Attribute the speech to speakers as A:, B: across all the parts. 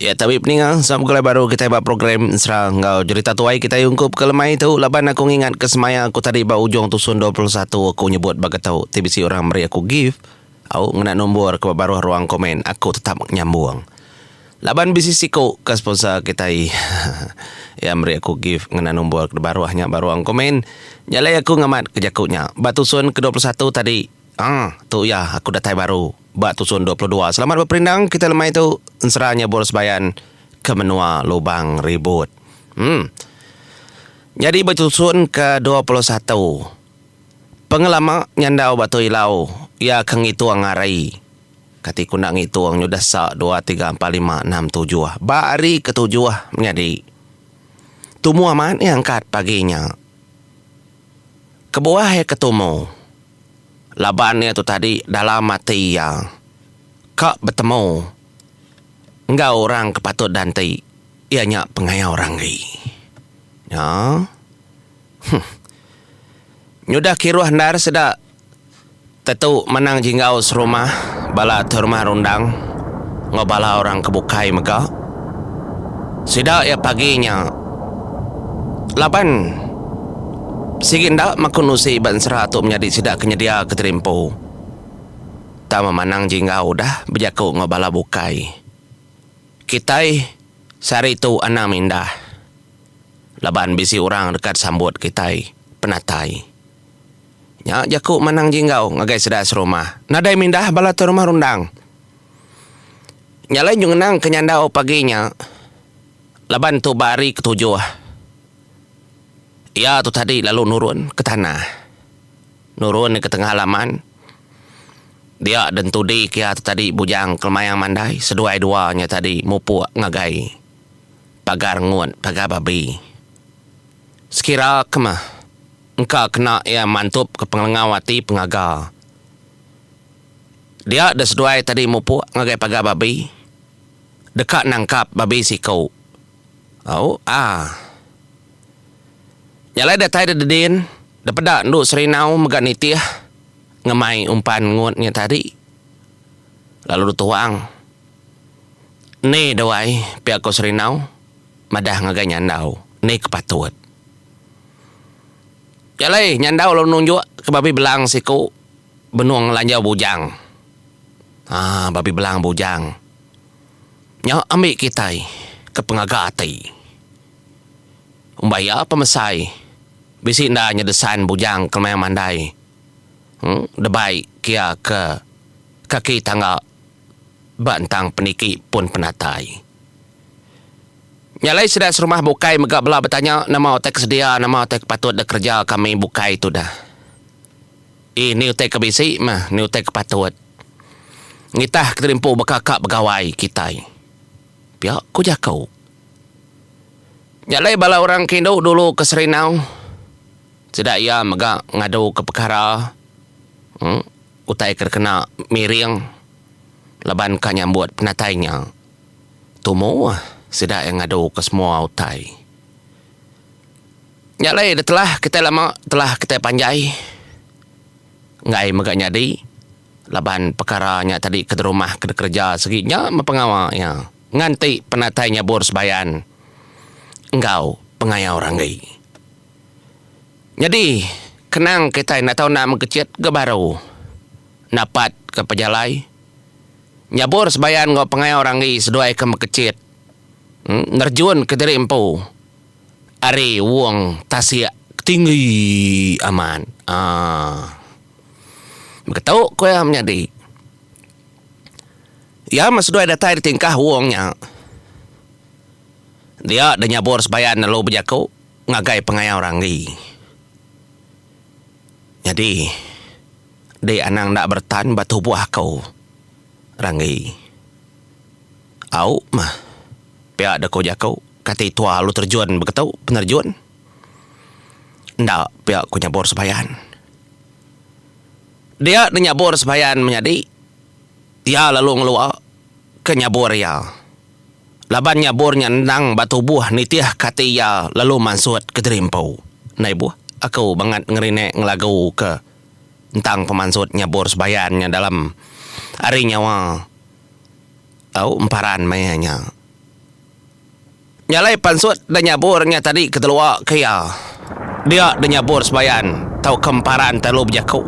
A: Iya tabi peninga sama begulai baru kitai ba program Ensera enggau jerita tuai kitai ungkup ke lemai tu laban aku ngingat ke semaya aku tadi ba ujung tusun dua puluh satu aku nyebut ba getu ti bisi orang meri aku gift au ngena numbor ke ba baruh ruang komen aku tetap nyambung laban bisi siku ka sponsor kitai iya meri aku gift ngena numbor ke baruh nya ba ruang komen nya alai aku ngamat ke jaku nya ba tusun ke dua puluh satu tadi. Haa, tu iya aku datai baru ba tusun dua puluh dua. Selamat beperindang kita lemai tu ensera nyebur sebayan ke menua Lubang Ribut. Emm. Nyadi ba tusun ke dua puluh satu. Pengelama nyandau ba tu ilau iya ke ngitung hari. Kati ku enda ngitung nyudah sa dua tiga empat lima enam tujuh. Ba hari ketujuh menyadi. Tumu amat iya angkat pagi nya. Kebuah iya ke tumu, laban iya tu tadi dalam ati iya ka betemu enggau orang ke patut dan ti iya nya pengaya orang agi. Nya. Huh. Nyudah kiruh endar sida Tetu menang jinggau serumah bala ti rumah rundang enggau bala orang ke bukai mega sida iya pagi nya laban sigi enda makun usi ba ensera tu menyadi sida ke nyedia ke diri empu tama menang jinggau udah bejaku enggau bala bukai. Kitai sehari tu anang mindah laban bisi orang deka sambut kitai penatai. Nya jaku Manang Jinggau ngagai sida serumah. Nadai mindah bala tu rumah rundang. Nya alai nyu ngenang ke nyandau pagi nya laban tu ba hari ketujuh iya tu tadi lalu nurun ke tanah. Nurun ke tengah laman dia dentudi ke iya tu tadi Bujang Kelemayang Mandai seduai dua nya tadi mupuk ngagai pagar ngut pagar babi. Sekira ke meh. engka kena iya mantup ke pengelengau ati pengaga dia da seduai tadi mupuk ngagai paga babi deka nangkap babi siko au a nya alai datai da dedin da peda endu serinau mega nitih ngemai umpan ngut nya tadi lalu dituang ni duai pia ko serinau madah ngagai nyandau ni ke patut. Jalai nyandau lalu nunjuk ke babi belang siku benung lanjau bujang. Haa babi belang bujang. Nya ambi kitai ke pengaga ati. Umbah iya pemesai bisi enda nyedesan bujang kelemai mandai emm debai kia ke kaki tangga ba entang peniki pun penatai. Nya alai sida serumah bukai mega bela betanya nama utai ke sedia, nama utai ke patut dikereja kami bukai tudah. Ii Ni utai ke bisi mah, ni utai ke patut ngitah kedirimpu baka ka begawai kitai pia ku jaku. Nya alai bala orang ke indu dulu ke Serindau sida iya mega ngadu ke pekara utai ke dikena miring laban ka nyambut penatai nya. Tumu, sida iya ngadu ke semua utai. Nya alai da telah kitai lama telah kitai panjai enggai mega nyadi laban pekara nya tadi ke derumah ke dikereja sigi nya meh pengawa iya nganti penatai nyabur sebayan enggau pengayau ranggi. Nyadi kenang kitai enda tau enda mengkecit ga baru napatka pejalai. Nyabur sebayan enggau pengawa orang agi seduai ke mekechit nerjunka diri empu ari wong tasik ke tinggi amat. Aaa. Baka tu ku iya menyadi. Iya meh seduai datai ditingkah wong nya dia deh nyabur sebayan lalu bejaku ngagai pengawa orang agi. Nyadi. Dei anang enda beretan ba tubuh aku, Ranggi. Au mah. Pia deh ku jaku, kati tua alu terjun begetu penerjun. Enda pia ku nyabur sebayan. Dia ne nyabur sebayan menyadi, iya lalu ngelua ke nyabur iya. Laban nyabur nya endang ba tubuh nitih ke ati iya lalu mansut ke diri empu. Nai buh aku bangat ngerinik ngelagu ke. ntang pemansut nyabur sebayan nya dalam ari nyawa tau emparan maya nya. Nya alai pansut da nyabur nya tadi ketelua ke iya dia da nyabur sebayan tauka emparan telalu bejaku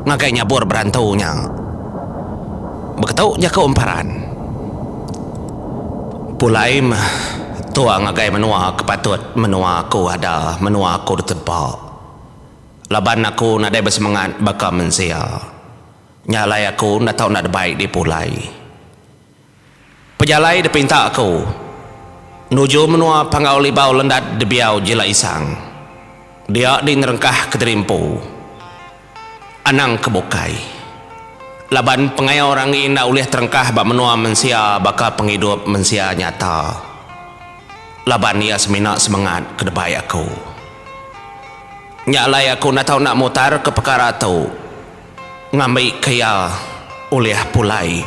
A: ngagai nyabur berantu nya. Beketu jaku emparan pulai meh tua ngagai menua ke patut menua aku ada menua aku ditempa. Laban aku nadai besemengat baka mensia, nya alai aku enda tau enda debai dipulai. Pejalai dipinta aku nuju menua Panggau Libau Lendat Debiau Jila Isang, dia di nerengkah kediri empu anang ke bukai. Laban pengaya orang ngi enda ulih terengkah ba menua mensia baka pengidup mensia nyata. laban iya semina semengat ke debai aku. Nya alai aku enda tau enda mutarka pekara tu ngambika iya ulih pulai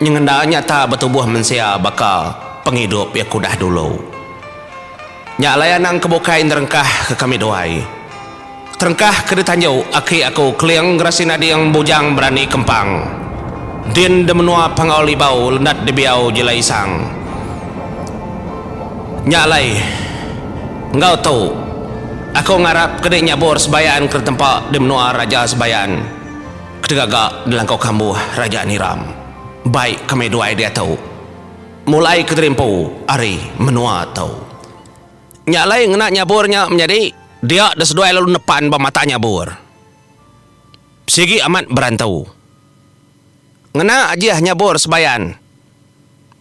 A: nyengenda nyata betubuh mensia baka pengidup iya ke udah dulu. Nya alai anang ke bukai nerengkahka kami duai. Terengkah ke ditanju aki aku Keling Gerasin Ading Bujang Berani Kempang din di menua Pangau Libau Lendat Dibiau Jilai Isang. Nya alai enggau tu aku ngarap ke dinyabur sebayan ke ditempa di menua Raja Sebayan ketegaga dilangkau kambuh Raja Niram bai ke meh duai diatu mulai ke dirimpu ari menua tu. Nya alai ngena nyabur nya menyadi dia da seduai lalu nepan ba mata nyabur. Sigi amat berantu. Ngena ajih nyabur sebayan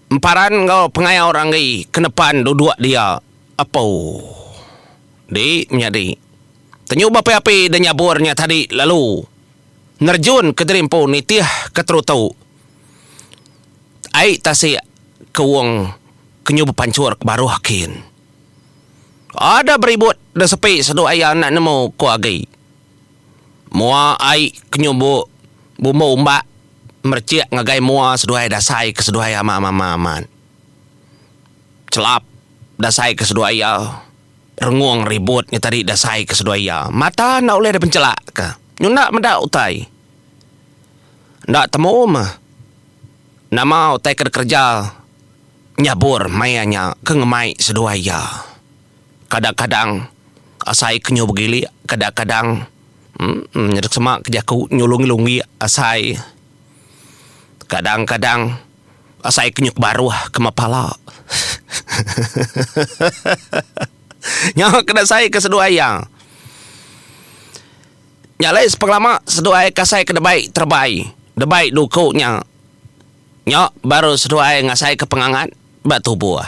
A: emparan enggau pengaya orang agi ke nepan duduk dia apu di menyadi tenyu ba api-api da nyabur nya tadi lalu nerjun ke diri empu nitih ke terutu ai tasik ke wong Kenyu bepanchur ke baruh kin. Ada beribut da sepi sedu aya enda nemu ko agi. Mua ai kenyu bu bumbu umbak merechik ngagai mua seduai dasai ke seduai ama mama amat. Chelap dasai ke seduai iya rengung ribut nya tadi dasai ke seduai iya mata enda ulih dipenchelak ka. Nyu enda meda utai. Enda temu meh. Nama utai ke dikereja nyabur maya nya ke ngemai seduai iya? Kadang-kadang asai ke nyu begilik, kadang-kadang uhh nyadi sema ke jaku nyulungi lunggik asai. Kadang-kadang asai ke nyu ke baruh kema pala. Nya ke asai ke seduai iya. Nya alai sepengelama seduai ai kasai ke debai terebai debai duku nya nya baru seduai ai ngasaika pengangat ba tubuh.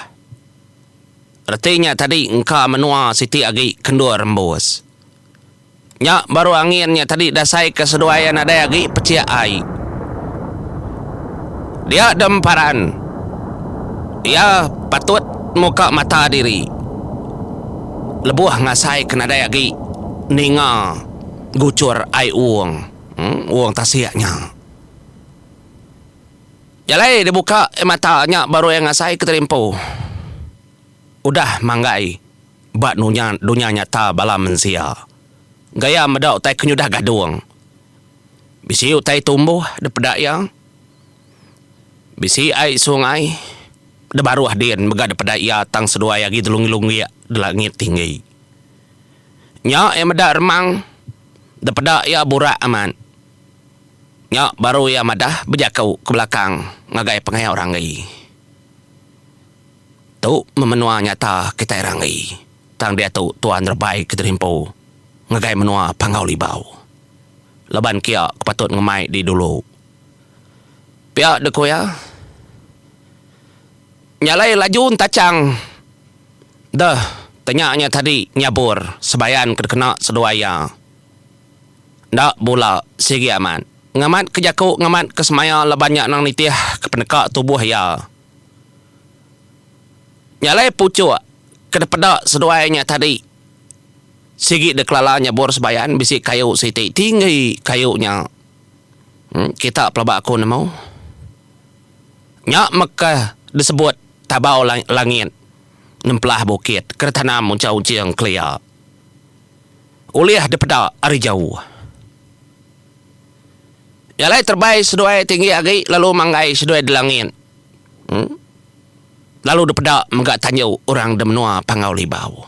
A: Reti nya tadi engka menua siti agi ke endur rembus. Nya baru angin nya tadi diasaika seduai ai nadai agi pecik ai. Dia dem paran iya patut muka mata diri. Lebuh ngasai ke nadai agi ninga guchur ai uung uung tasik nya. Jalai dia buka ai mata nya baru iya ngasai ke tadi empu. Udah manggai ba nunya dunya nyata bala mensia. Gaya meda utai ke nyudah gadung. Bisi utai tumbuh dipeda iya. Bisi ai sungai da baruh din mega dipeda iya tang seduai agi delunggik-lunggik da langit tinggi. Nya iya meda remang dipeda iya burak amat. Nya baru iya madah bejaku ke belakang ngagai pengayak orang agi. Tu meh menua nyata kitai orang agi tang diatu tuan rebai ke dirimpu ngagai menua Panggau Libau. Laban kia ke patut ngemai di dulu. Pia deh ku iya. Nyalai laju entachang deh tanya nya tadi nyabur sebayan ke dikena seduai iya. Enda bula sigi amat. Ngamat ke jaku ngamat ke semaya laban nya nang nitih ke peneka tubuh iya. Nyalai puchuk ke dipeda seduai nya tadi sigi deh kelala nyabur sebayan bisi kayu siti tinggi kayu nya. Kita pelaba aku nemu. Nya meka disebut tabau langit nempelah bukit ke ditanam unchang unching kelia ulih dipeda ari jauh. Nya alai terebai seduai tinggi agi lalu manggai seduai di langit lalu dipeda mega tanju orang di menua Panggau Libau.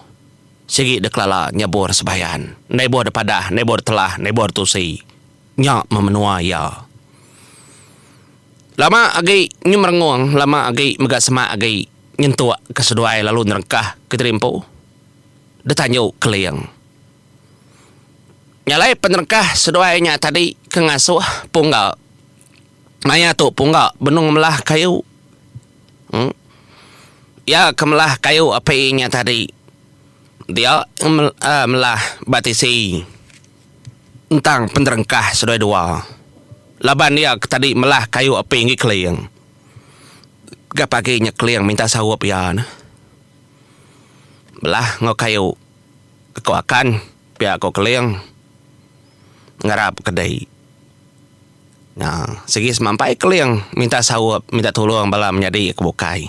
A: Sigi dekelala nyebur sebayan. Endai buh depadah, endai buh detelah, endai buh detusi. Nya meh menua iya. Lama agi nyu merengung, lama agi mega semak agi nyentuk ke seduai lalu nerengkah ke diri empu. Detanju Keling. Nya alai penerengkah seduai nya tadi ke ngasuh Pungga. Maya tu Pungga benung melah kayu. Iya ke melah kayu api nya tadi. Dia melah ba tisi entang penerengkah seduai dua. Laban iya ke tadi melah kayu api enggi keling. Ga pagi nya keling minta saup iya neh. Belah enggau kayu ku akan pia ku keling ngarap ke dei. Nah, sigi semampai Keling minta saup, minta tulung bala menyadi ke bukai.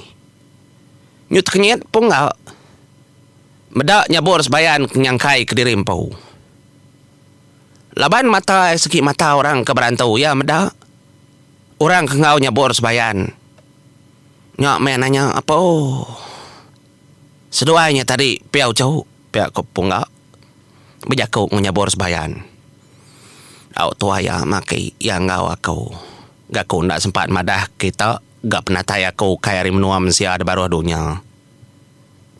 A: Nyu tekenyit pun enggau. Meda nyabur sebayan ke nyangkai kediri empu. Laban mata iya sigi mata orang ke berantu iya meda. Orang ke enggau nyabur sebayan nya meh nanya apo. Seduai nya tadi pia uchu pia ko Pungga bejaku enggau Nyabur Sebayan. Au tuai iya maki iya enggau aku. Ga ku enda sempat madah kita ga penatai aku ukai ari menua mensia da baruh dunya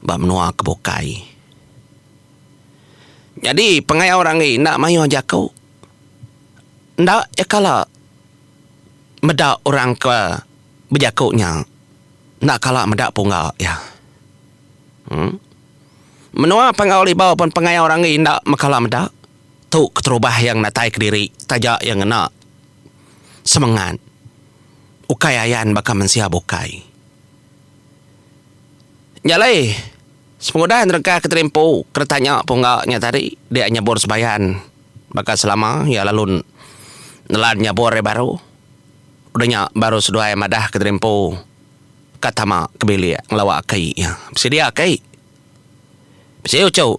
A: ba menua ke bukai. Nyadi pengawa orang agi enda mayuh jaku enda iya kala meda orang ke bejaku nya. Enda kala meda pungga iya. Em. Menua Panggau Libau pen pengayau ranggi enda mekala meda. Tu keterubah iya ngenatai kediri taja iya ngena semengat ukai ayan baka mensia bukai. Nya alai sepengudah nerengka Kenteri Empu ke ditanya pungga nya tadi dia nyebur sebayan baka selama iya lalu nelan nyebur iya baru. Udah nya baru seduai madah ke diri empu ka tama ke bilik ngelawa aki iya. Bisi dia aki? Bisi uchu.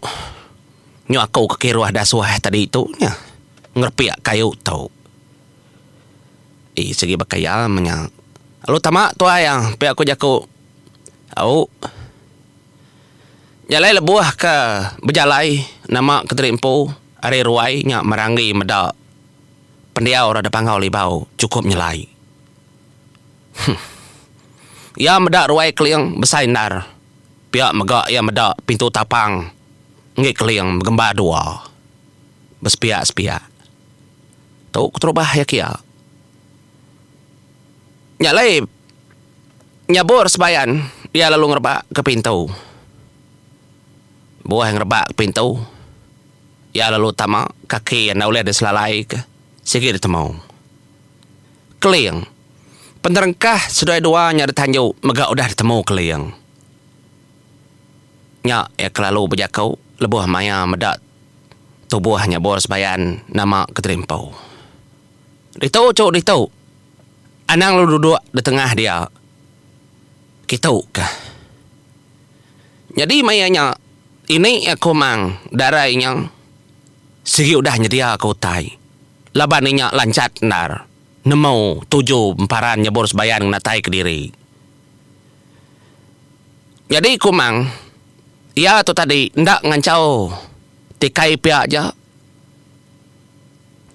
A: Nyu aku ke kiruh dasuh tadi tu nya ngerepik kayu tu. Ii sigi baka iya meh nya. Lalu tama tuai iya pia ku jaku. Au. Nya alai lebuh ke bejalai nama ke diri empu ari ruai nya meranggi meda Pendiau orang depangau Libau chukup nyelai. Huh. Iya meda ruai keling besai endar. Pia mega iya meda pintu tapang enggi keling begembar dua. Besepiak-sepiak. Tu keterubah iya kia. Nya alai nyabur sebayan iya lalu ngerebak ke pintu. Buah iya ngerebak ke pintu. Iya lalu tama kaki enda ulih diselalaika sigi ditemu. Keling. Penerengkah seduai dua nya ditanju mega udah ditemu Keling. Nya iya kelalu bejaku lebuh maya meda tubuh nyebur sebayan nama Keterimpu. Ditu, Chu, ditu. Anang lalu duduk ditengah dia. Kitu kah. Nyadi maya nya ini aku mang darai nya sigi udah nyedia aku utai laban inya lanchat endar nemu tuju emparan nyebur sebayan ngena tai kediri. Nyadi ku mang iya tu tadi enda nganchau tikai pia aja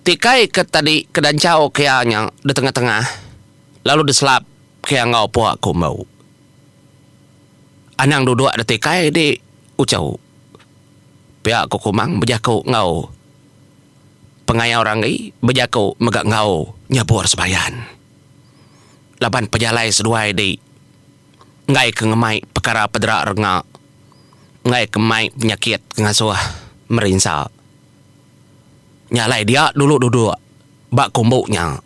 A: tikai ke tadi ke danchau ke iya nya di tengah-tengah lalu diselap. Ke enggau pua ku embau. Anang duduk da tikai di Uchau. Pia ku Kumang bejaku enggau pengayau Ranggi bejaku mega enggau nyabur Sebayan. Laban pejalai seduai di enggai ke ngemai pekara pedera renga, enggai ke mai penyakit ke ngasuh merinsa. Nya alai dia dulu duduk ba kumbu nya.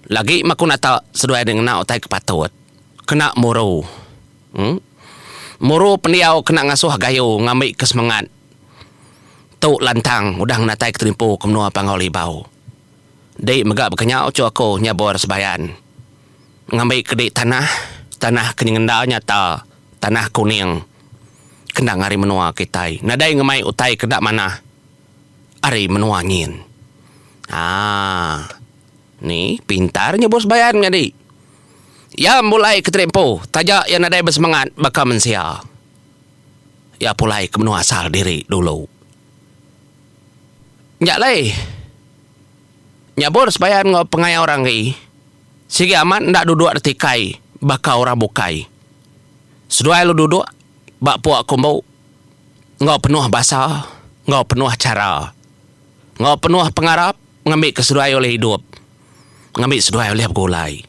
A: Lagi maku nata seduai nya ngena utai ke patut. Kena muru. Em. Muru pendiau kena ngasuh gayu ngambika semengat. Tu lantang udah ngenatai keterimpu ke menua Panggau Libau. Di mega baka nya uchu aku nyabur sebayan. Ngambika di tanah, tanah ke nyengenda nyata, tanah kuning kendang ari menua kitai. Nadai ngemai utai ke enda manah ari menua nyin. Haa. Ni, pintar nya Bos Bayan nyadi. Iya mempulai ke Terik Empu taja iya nadai besemengat baka mensia. Iya pulai ke menua asal diri dulu. Nya alai, nya Bos Bayan enggau pengaya orang agi, sigi amat enda duduk reti kai baka orang bukai. Seduai lu duduk ba puak kumbu enggau penuh basa enggau penuh chara. Enggau penuh pengarap ngambika seduai ulih idup ngambi seduai ulih begulai.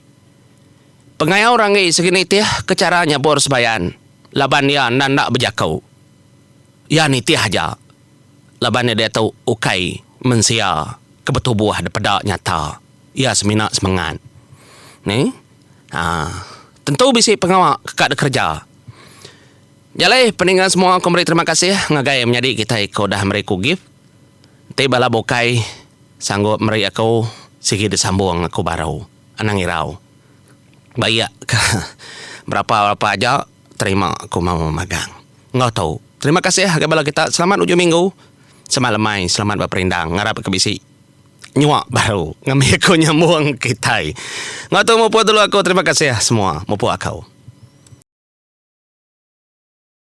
A: Pengayau Ranggi sigi nitih ke chara nyabur Sebayan laban iya enda enda bejaku. Iya nitih aja laban iya diatu ukai mensia ke betubuh dipeda nyata. Iya semina semengat. Ni aaa tentu bisi pengawa ke ka dikereja. Nya alai peninga semua aku meri terima kasih ngagai menyadi kitai ke udah meri aku gift. Enti bala bukai sanggup meri aku sigi disambung aku baru anang irau. Ba iya ka berapa-berapa aja terima aku mau magang. Enggau tu, terima kasih ngagai bala kita selamat ujung minggu, selamat lemai, selamat beperindang ngarap ka bisi nyua baru ngambi aku nyambung kitai. Enggau tu mupuk dulu aku terima kasih semua mupuk aku.